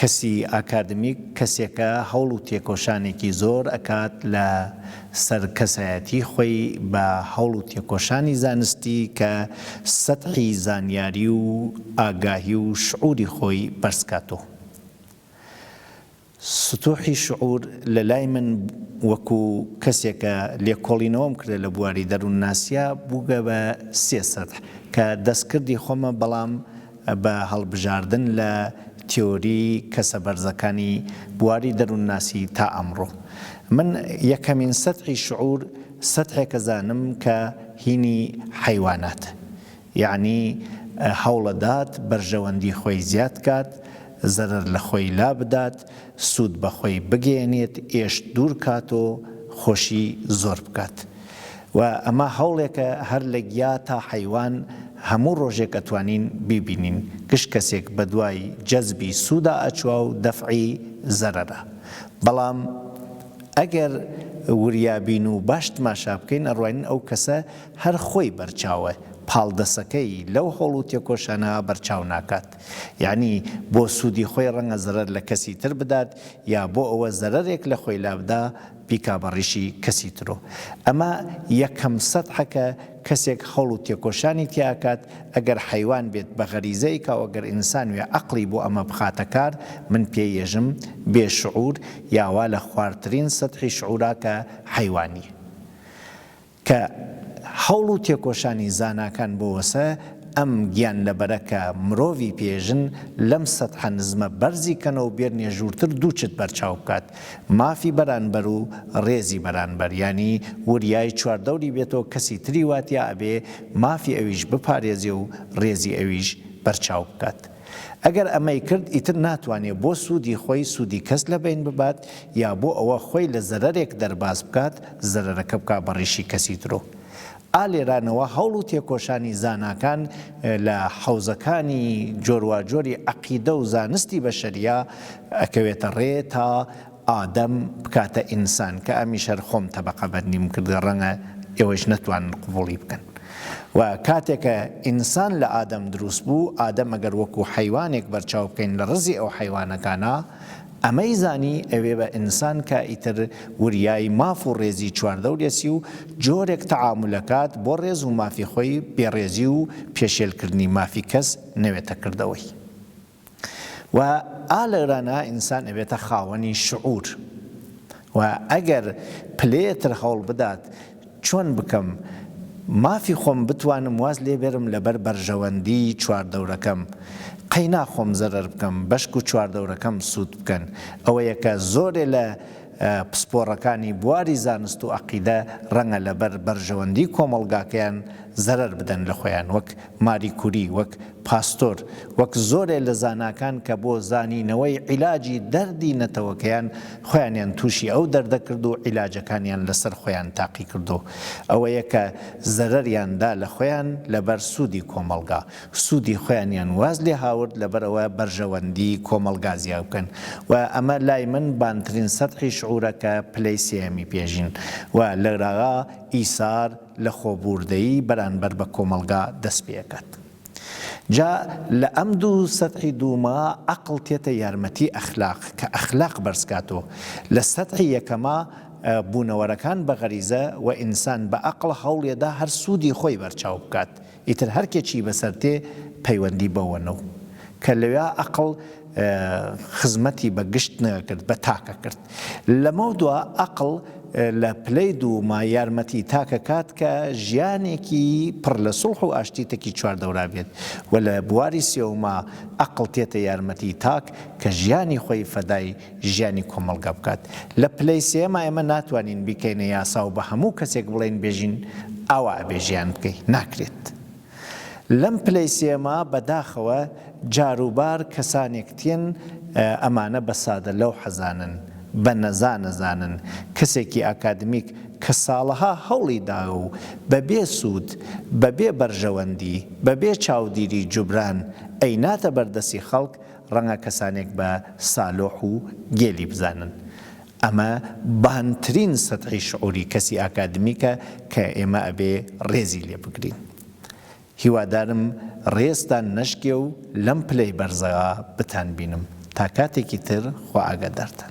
کەسی ئاکادمیک کەسێکە هەوڵ و تێکۆشانێکی زۆر ئەکات لە سەر کەسایەتی خۆی بە هەوڵ و تێکۆشانی زانستی کە سەتحی زانیاری و ئاگاهی و شعوری خۆی بەرز کاتۆ سطوحی شعور لە لای من وەکو کەسێکە لێکۆڵینەوەم کردە لە بواری دەرونناسیا بوگە بە سێ سەتح کە دەستکردی خۆمە بەڵام بە هەڵبژاردن لە تیۆری کەسە بەرزەکانی بواری دەروونناسی تا ئەمڕۆ من یەکەمین سەتحی شعور سەتحێکەزانم کە هینی حەیوانات یەعنی هەوڵەدات بەرژەوەندی خۆی زیاد کات زەرەر لە خۆی لابدات سود بەخۆی بگەیەنێت ئێشت دوور کات و خۆشی زۆر بکات و ئەمە هەوڵێکە هەر لە گیا تا حەیوان هەموو ڕۆژێک ئەتوانین بیبینین گشت کەسێک بەدوای جەزبی سودا ئەچوا و دەفعی زەرەرا بەڵام ئەگەر وریابین و باش تماشا بکەین ئەڕوانین ئەو کەسە هەر خۆی بەرچاوە پاڵدەسەکەی لەو هەوڵ و تێکۆشانە بەرچاو ناکات. یانی بۆ سوودی خۆی ڕەنگە زەرەر لە کەسی تر بدات یا بۆ ئەوە زەرەرێک لە خۆی لابدا بیکا بە ڕیشی کەسی ترۆ ئەمە یەکەم سەتحەکە کەسێک هەوڵ و تێکۆشانی تیاکات ئەگەر حەیوان بێت بە غەریزەی کاوەگەر ئینسان وێ عەقڵی بۆ ئەمە بخاتە کار من پێ یەژم بێ شعور یاوا لە خوارترین سەتحی شعوراکە حەیوانی کە هەوڵ و تێکۆشانی زاناکان بۆوەسە ئەم گیانلەبەرە کە مرۆڤی پێژن لەم سەتحە نزمە بەرزی کەنەو بێرنێ ژوورتر دوو چت بەرچاو بکات مافی بەرانبەر و ڕێزی بەرانبەر یانی وریای چواردەوری بێتەوە کەسی تری واتیا ئەبێ مافی ئەویش بپارێزێ و ڕێزی ئەویش بەرچاو بکات. ئەگەر ئەمەی کرد ئیتر ناتوانێ بۆ سوودی خۆی سوودی کەس لەبەین ببات یا بۆ ئەوە خۆی لە زەرەرێک دەرباز بکات زەرەرەکە بکا بە ڕیشی کەسی ترۆ. ئا لێرانەوە هەوڵ و تێکۆشانی زاناکان لە حەوزەکانی جۆرواجۆری عەقیدە و زانستی بەشەریا ئەکەوێتە ڕێ تا ئادەم بکاتە ئینسان کە ئەمیش هەر خۆم تەبقە بەرنیم کرد ڕەنگە ئێوەیش نەتوانن قبوڵی بکەن و کاتێ کە ئینسان لە ئادەم دروست بوو ئادەم ئەگەر وەکو حەیوانێک بەرچاو بکەین لە ڕزی ئەو حەیوانەکانا ئەمەی زانی ئەوێ بە ئینسان کە ئیتر وریای ماف و ڕێزی چواردەورێسی و جۆرێک تەعامول ئەکات بۆ ڕێز و مافی خۆی بێ ڕێزی و پێشێل کردنی مافی کەس نەوێتە کردەوەی و ئا لەرانا ئینسان ئەبێتە خاوەنی شعور و ئەگەر پلەیەتر هەوڵ بدات چۆن بکەم مافی خۆم بتوانم واز لێ بێرم لەبەر بەرژەوەندی چواردەورەکەم قەینا خۆم زەرەر بکەم بەشک و چواردەورەکەم سوود بکەن ئەوەیە کە زۆرێ لە پسپۆڕەکانی بواری زانست و ئەقیدە ڕەنگە لەبەر بەرژەوەندی کۆمەڵگاکەیان زەرەر بدەن لە خۆیان وەک ماری کوری وەک پاستۆر وەک زۆرێ لە زاناکان کە بۆ زانینەوەی عیلاجی دەردی نەتەوەکەیان خۆیانیان توشی ئەو دەردە کرد و عیلاجەکانیان لەسەر خۆیان تاقی کردو ئەوەیە کە زەرەریان دا لە خۆیان لەبەر سودی کۆمەڵگا سودی خۆیانیان واز لێ هاورد لەبەرئەوە بەرژەوەندی کۆمەڵگا زیا بکەن و ئەمە لای من بانترین سەتحی شعورە کە پلەی سێیەمی پێژین و لەراگا ئیسار لەخۆبووردەیی بەرانبەر بە کۆمەڵگا دەست پێکات جا لە ئەم دوو سەتحی دووما ئەقڵ تێتە یارمەتی ئەخلاق کە ئەخلاق بەرزکاتۆ لە سەتحی یەکەما بوونەوەرەکان بە غەریزە وە ئینسان بە ئەقڵ هەوڵیەدا هەر سوودی خۆی بەرچاو بکات ئیتر هەر کێ چی بەسەر تێ پەیوەندی بەوە نەو کە لەویا ئەقڵ خزمەتی بە گشت نەکرد بە تاکە کرد. لەمەو دوا ئەقڵ لە پلەی دووما یارمەتی تاکە کات کە ژیانێکی پڕ لە سوڵح و ئاشتی تەکی چوار دەورا بێت و لە بواری سێوما ئەقڵ تێتە یارمەتی تاک کە ژیانی خۆی فەدای ژیانی کۆمەڵگا بکات لە پلەی سێما ئێمە ناتوانین بیکەینە یاسا و بە هەموو کەسێک بڵێین بێژین ئاوا ئەبێ ژیان بکەی ناکرێت لەم پلەی سێما بەداخەوە جاروبار کەسانێک تێن ئەمانە بە سادە لەو حەزانن بە نەزا نەزانن کەسێکی ئاکادمیک کە ساڵەها هەوڵی دا و بەبێ سوود بەبێ بەرژەوەندی بەبێ چاودیری جوبران ئەیناتە بەردەسی خەڵک ڕەنگە کەسانێک بە سالۆح و گێلی بزانن. ئەمە بانترین سەتحی شعوری کەسی ئاکادمیکە کە ئێمە ئەبێ ڕێزی لێ بگرین. هیوادارم ڕێزتان نەشکێ و لەم پلەی بەرزەوە بتانبینم. تا کاتێکی تر خوا ئاگادارتان.